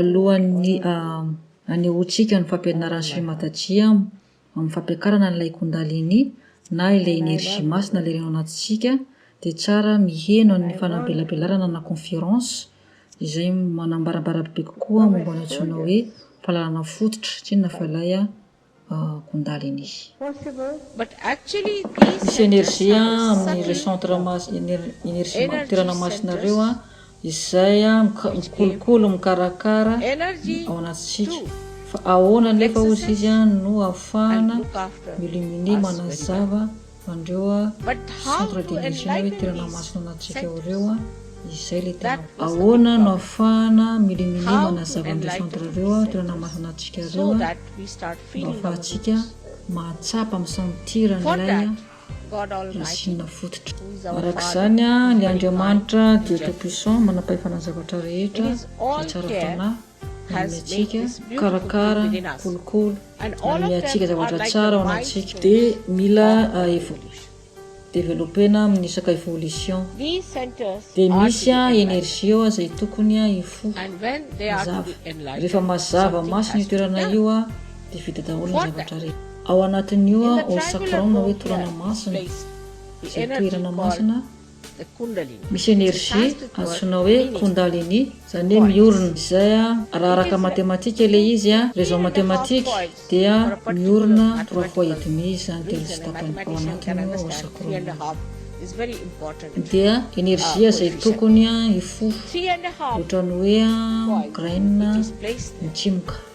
Alohan'ny hanehoantsika ny fampianaran'i Shri Mataji amin'ny fampiakarana ilay Kundalini na ilay enerzia masina leiriny ao anatintsika dia tsara miheno an'ny fanambelabelarana na conférence izay manambarambara bebe kokoa momba ny antsoina hoe fahalalana fototra, tsy inona fa ilay Kundalini. Misy energie amin'ny ireo centre energie mampiterana masina ireo izay mikolokolo mikarakara ao anatintsika fa ahoana anefa ozy izy no ahafahana mi-illuminer manazava Andreo a centre de mission hoe toerana masina anatintsika ao reo a izay le tena. Ahoana no afahana milimilima manazava an'ireo centre reo a toerana masina anatintsika reo a mba afahantsika mahatsapa misantir an'ilay a racine fototra. Arak'izany a le Andriamanitra Dieu tout puissant manam-pahefana ny zavatra rehetra izay tsara fanahy Amintsika, mikarakara, mikolokolo, manome antsika zavatra tsara ao anatintsika. Dia mila developena amin'ny saka evolution. Dia misy energie ao izay tokony hifoha, mazava. Rehefa mazava masina io toerana io dia vita daholo ny zavatra rehetra. Ao anatin'io ao sakram na hoe torana masina, izay toerana masina Misy energie antsoina hoe Kundalini, zany hoe miorina izay a, raha araka matematika ilay izy a, raison matematique, dia miorina trois fois et demi izy zany, telo sy tapany, ao anatin'io ao ao sacrum io. Dia energie izay tokony hifoha, ohatran'ny hoe a graine mitimoka.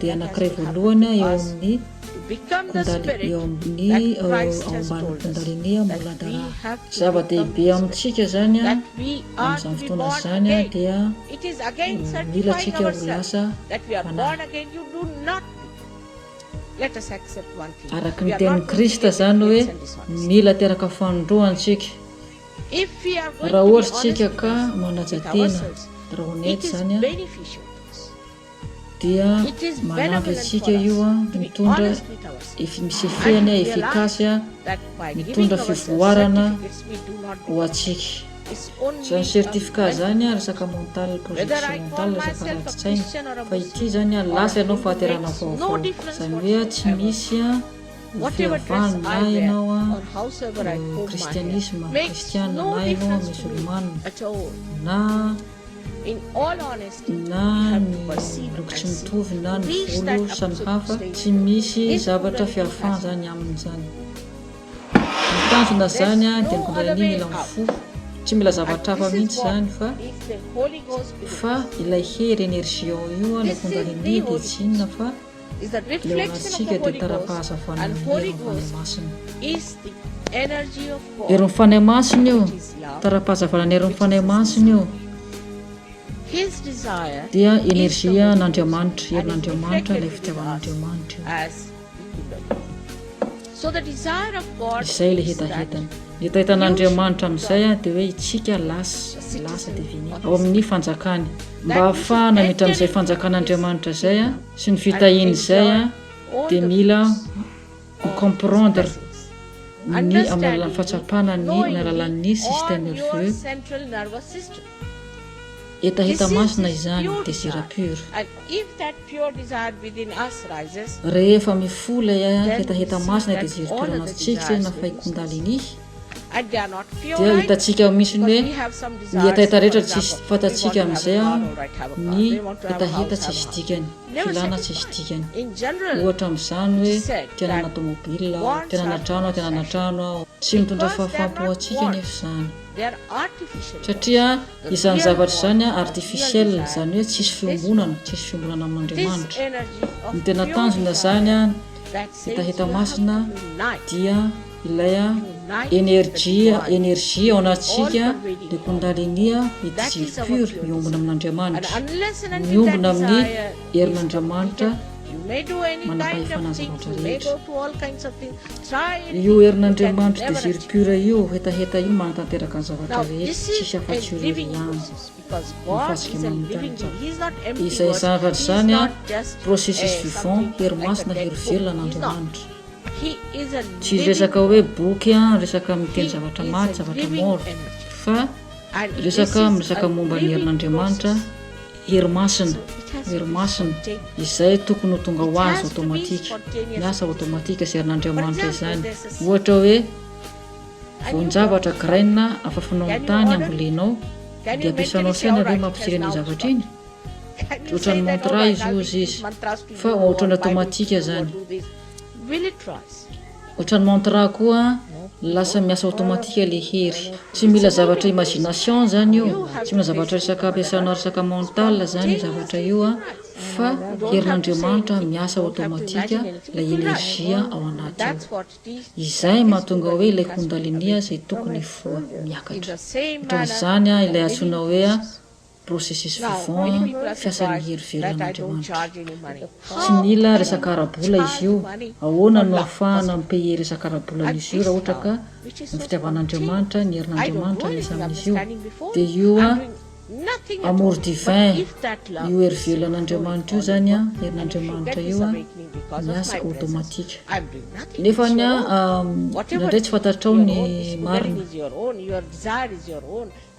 dia anankiray voalohany eo amin'ny kundali, eo amin'ny ao ambany kundalini Muladhara. Zava-dehibe amintsika izany amin'izany fotoana izany dia mila antsika ho lasa fanahy. Araka ny tenin'i Kristy izany hoe mila teraka fanindroany isika. Raha ohatra isika ka manaja tena, raha honnête izany, dia manampy antsika io mitondra fihefena efficace mitondra fivoarana ho antsika. Izany certificat izany resaka mental projection mental resaka anatin-tsaina fa ity izany lasa ianao fahaterahana vaovao izany hoe tsy misy fiavahana na ianao kristianisma kristiana na ianao musulmana na na ny loko tsy mitovy na ny volo samy hafa, tsy misy zavatra fiafan zany aminy zany. Ny tanjona zany dia mitondra ny an'iny eo amin'ny fo, tsy mila zavatra hafa mihitsy zany fa fa ilay hery energie ao io no mitondra ny an'iny dia tsy inona fa. Ilay horatsika dia tara-pahazavana ny herin'ny Fanahy Masina. Herin'ny Fanahy Masina io, tara-pahazavana ny herin'ny Fanahy Masina io dia enerzia an'Andriamanitra, herin'Andriamanitra, ilay fitiavan'Andriamanitra io. Izay ilay hetahetany. Ny hetahetan'Andriamanitra amin'izay dia hoe isika lasa, lasa divinity, ao amin'ny Fanjakany. Mba hahafahana miditra amin'izay Fanjakan'Andriamanitra izay sy ny fitahiany izay dia mila mi comprendre ny amin'ny alalan'ny fahatsapana ny amin'ny alalan'ny système nerveux, Hetaheta masina izany, Désiré Pur. Rehefa mifoha ilay hetaheta masina Désiré Pur anatintsika izay na fay Kundalini, dia hitantsika mihitsy ny hoe ny hetaheta rehetra tsisy fantatsika amin'izay ny hetaheta tsisy dikany, filana tsisy dikany. Ohatra amin'izany hoe te hanana tomobile aho, te hanana trano aho, te hanana trano aho. Tsy mitondra fahafaham-po ho antsika anefa izany. Satria izany zavatra izany artificiel, izany hoe tsisy fiombonana, tsisy fiombonana amin'Andriamanitra. Ny tena tanjona izany hitahita masina dia ilay energia, energie ao anatintsika, ny kundalini, ny désir pur miombona amin'Andriamanitra, miombona amin'ny herin'Andriamanitra manam-pahefana azy rehetra. Io herin'Andriamanitro Désir Pur io hetaheta io manatanteraka ny zavatra rehetra tsisy afatsy io irery ihany no fasika manontany tsara izay izany raha tsy izany an processus vivant hery masina hery velona an'Andriamanitra tsy resaka hoe boky an resaka miteny zavatra maty zavatra mort fa resaka miresaka momba ny herin'Andriamanitra Hery masina, Hery masina, izay tokony ho tonga ho azy automatique, ny asa automatique izay an'Andriamanitra izany. Ohatra hoe, voan-javatra, grain, afafinao amin'ny tany, ambolenao, dia ampiasanao saina ve mampijirena iny zavatra iny? Tsy ohatran'ny montre izy ozy izy, fa ohatran'ny automatique izany. Otrany mantra koa lasa miasa automatique le hery. Tsy mila zavatra imagination zany io, tsy mila zavatra resaka ampiasana resaka mental zany io zavatra io a, fa herin'Andriamanitra miasa automatique lay energie ao anaty ao. Izay mahatonga hoe ilay kundalini zay tokony hifoha, miakatra. Otran'izany ilay antsoina hoe. processus vivant fiasan'ny hery velon'Andriamanitra. Tsy mila resaka ara-bola izy io, ahoana no ahafahana mi-payer resaka ara-bola an'izy io raha ohatra ka ny fitiavan'Andriamanitra, ny herin'Andriamanitra miasa amin'izy io? Dia io amour divin, io hery velon'Andriamanitra io izany an, herin'Andriamanitra io an, miasa automatique. Nefa ny an, indraindray tsy fantatrao ny marina.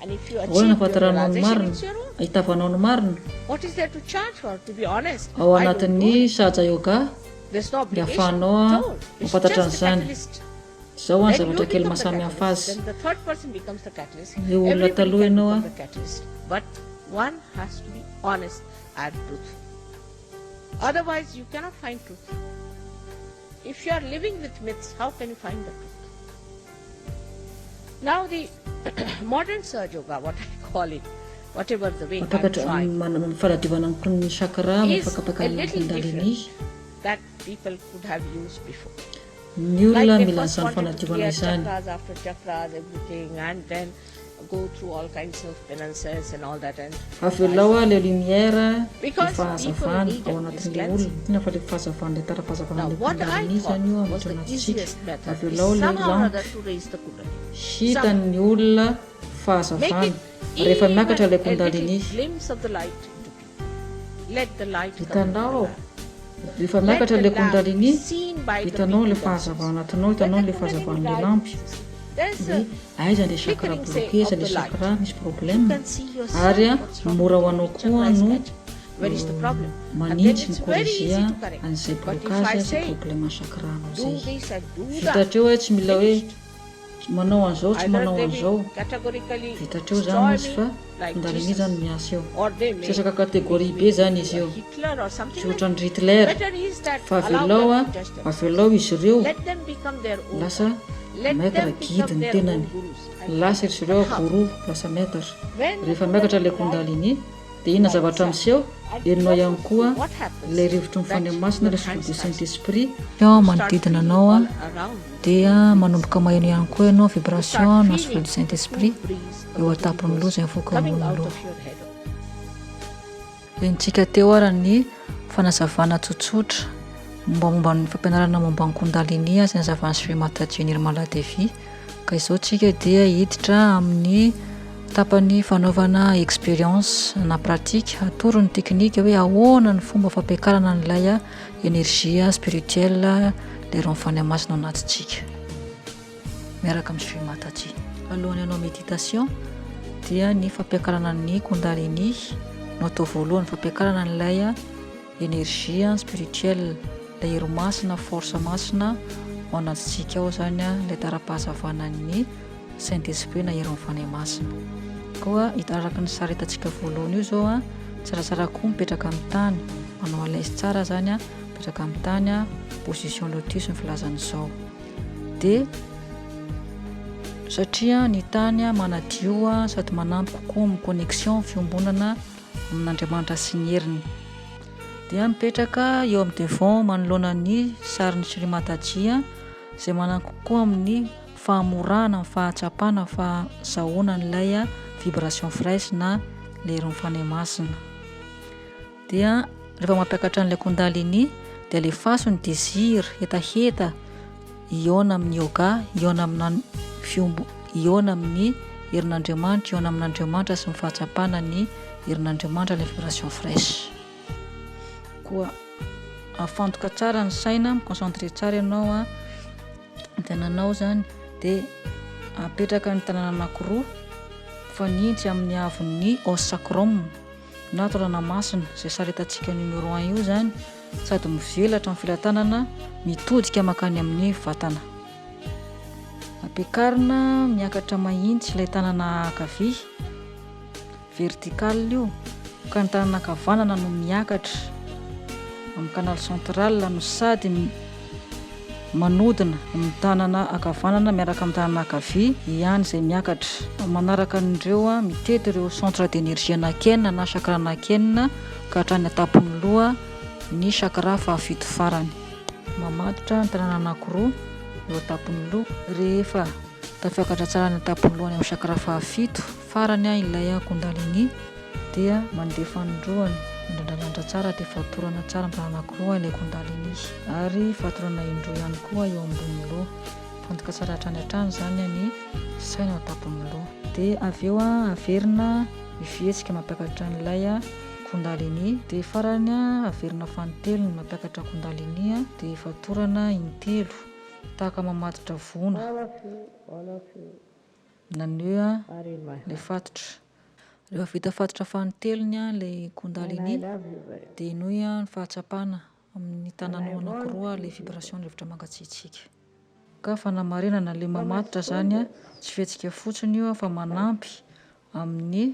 Ahoana no ahafantaranao ny marina? Ahitavanao ny marina? Ao anatin'ny Sahaja Yoga dia ahafahanao mahafantatra an'izany. Izao ny zavatra kely maha samy hafa azy, Ireo olona taloha ianao an! Mampakatra manana ny fanadiovana ny mponin'ny chakra amin'ny fakapakana ny kundalini. Ny olona mila an'izany fanadiovana izany. Avelao aho ilay lumière, ilay fahazavana, ao anatin'ilay olona. Inona fa ilay fahazavan'ilay tara-pahazavàn'ilay Kundalini izany io miditra anatintsika. Avelao ilay lampe hitany ny olona fahazavana rehefa miakatra ilay Kundalini. Hitanao aho, rehefa miakatra ilay Kundalini, hitanao ilay fahazavana ao anatinao, hitanao ilay fahazavan'ilay lampy, hoe aiza ilay chakra bloqué, aiza ilay chakra misy problème, ary mora ho anao koa no manitsy, mi-corriger an'izay blocage, izay problème chakra-nao izay. Vita hatreo e, tsy mila hoe. Tsy manao an'izao, tsy manao an'izao. Vitatr'eo zany izy fa findaly mi zany miasa eo. Sesaka catégorie be zany izy io. Tsy ohatran'i Ritler fa avelao a, avelao izy ireo lasa maître guide ny tenany. Lasa izy ireo gourou, lasa maître. Rehefa miakatra le kundalini. Dia inona zavatra miseho? Herinao ihany koa ilay rivotry ny Fanahy Masina, ilay Souffle du Saint-Esprit. Eo amin'ny manodidina anao, dia manomboka maheno ihany koa ianao vibration na Souffle du Saint-Esprit eo an-tampon'ny loha izay mivoaka eo ambonin'ny loha. Henontsika teo ary ny fanazavana tsotsotra mombamomba ny fampianarana momba ny Kundalini izay nazavan'i Sri Mataji Nirmala Devi. Ka izao tsika dia hiditra amin'ny tapany fanaovana experience na pratique, atoro ny teknika hoe ahoana ny fomba fampiakarana an'ilay energie spirituelle le rano fanahy masina ao anatintsika miaraka amin'ny Shri Mataji. Alohan'ny hanao méditation dia ny fampiakarana ny kundalini no atao voalohany, fampiakarana an'ilay Energie an, spirituel, ilay hery masina, force masina ao anatintsika ao izany an, ilay tara-pahazavanan'ny Saint Esprit na herin'ny Fanahy Masina. Koa ito araka ny sary hitantsika voalohany io izao an, tsaratsara koa mipetraka amin'ny tany, manao à l'aise tsara izany an, mipetraka amin'ny tany an, position lotus ny filazana izao. Dia satria ny tany an manadio an sady manampy kokoa amin'ny connexion, fiombonana, amin'Andriamanitra sy ny heriny. Dia mipetraka eo amin'ny devant manoloana ny sarin'i Shri Mataji izay manampy koa amin'ny fahamorahana ny fahatsapana fa zahoana an'ilay vibration fraîche na leiron'ny Fanahy Masina. Dia rehefa mampiakatra an'ilay Kundalini dia alefaso ny désir hetaheta hihaona amin'ny yoga, hihaona amina fiombo, hihaona amin'ny herin'Andriamanitra, hihaona amin'Andriamanitra sy ny fahatsapana ny herin'Andriamanitra ilay vibration fraîche. Koa afantoka tsara ny saina, mi-concentrer tsara ianao a, ny tananao zany de apetraka ny tanana anakiroa mifanintsy amin'ny haavon'ny os sacrum. Nato Ranamasina, izay saretantsika numéro un io izany, sady mivelatra ny felatanana mitodika mankany amin'ny vatana. Ampiakarina miakatra mahitsy ilay tanana ankavia, vertical io, ka ny tanana ankavanana no miakatra amin'ny canal central no sady Manodina ny tanana ankavanana miaraka amin'ny tanana ankavia ihany izay miakatra. Manaraka an'ireo, mitety ireo centre d'énergie anakienina na chakra anakienina ka hatrany an-tampon'ny loha ny chakra fahafito farany. Mamatotra ny tanana anakiroa eo an-tampon'ny loha rehefa tafiakatra tsara any an-tampon'ny loha any amin'ny chakra fahafito. Farany an ilay an kundalini dia mandeha fanindroany mandrandralandra tsara dia fatorana tsara mba anankiroa ilay kundalini ary fatorana indroa ihany koa eo ambony loha mifantoka tsara hatrany hatrany zany an ny saina ao tapon'ny loha dia avy eo an averina ny fihetsika mampiakatra an'ilay an kundalini dia farany an averina fanintelony ny mampiakatra kundalini an dia fatorana intelo tahaka mamatotra voana. Naneho ilay fatotra. Rehefa vita fatotra fanintelony ilay Kundalini, dia henoy ny fahatsapana amin'ny tananao anankiroa ilay vibration rivotra mangatsiatsiaka. Ka fanamarinana, ilay mamatotra izany tsy fihetsika fotsiny io fa manampy amin'ny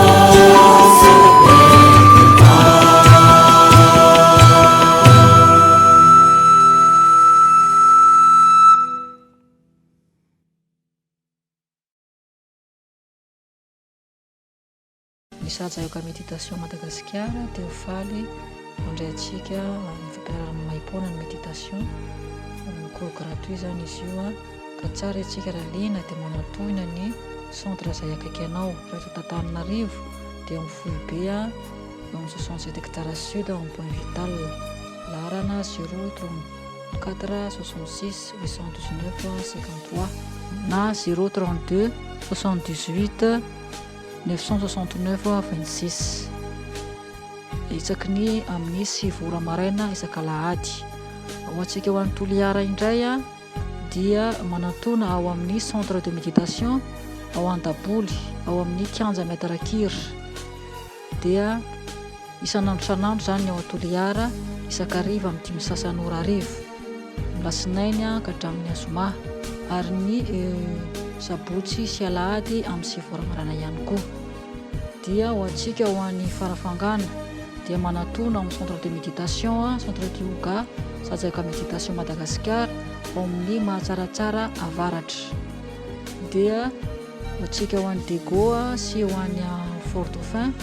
Misahaja yoga méditation Madagasikara dia ho faly mandray antsika amin'ny fampianaran'ny maipoana ny méditation, cours gratuit izany izy io. Raha tsara isika raha liana dia manantohina ny centre izay akaiky anao, raha eto Antananarivo dia ao amin'ny foibe eo amin'ny soixante sept hectares sud ao amin'ny point vital, laharana zéro trente quatre soixante six huit cent dix neuf cinquante trois na zéro trente deux soixante dix huit neuf cent soixante neuf vingt six isaky ny amin'ny sivy ora maraina isak'alahady, ao antsika ao any Toliara indray. dia manatona ao amin'ny Centre de Méditation ao Antaboly, ao amin'ny Kianja Maître Rakir. Dia isan'andro isan'andro izany ny ao Toliara, isan-kariva amin'ny dimy sasany ora arivo, ny lasinainy ka hatramin'ny azoma, ary ny eh, sabotsy sy alahady amin'ny sivy ora marana ihany koa. dia ho antsika ho any Farafangana dia manatona amin'ny centre de méditation centre de yoga Sajaka méditation Madagasikara ao amin'ny Mahatsaratsara Avaratra dia ho antsika ho any Dego sy ho any Fort Dauphin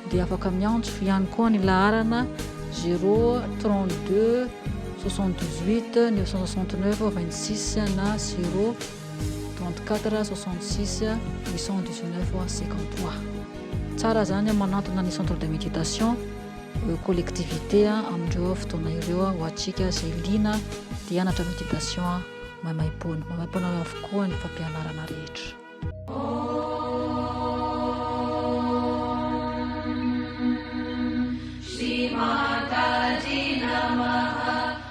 dia afaka miantso ihany koa ny laharana 032 78 969 26 na 0 34 à 66 819 voire 53 tsara zany manantona ny centre de méditation euh, collectivité amindreo fotoana ireo ho atsika zay lina de anatra méditation maimaimpoana maimaimpoana avokoa ny fampianarana rehetra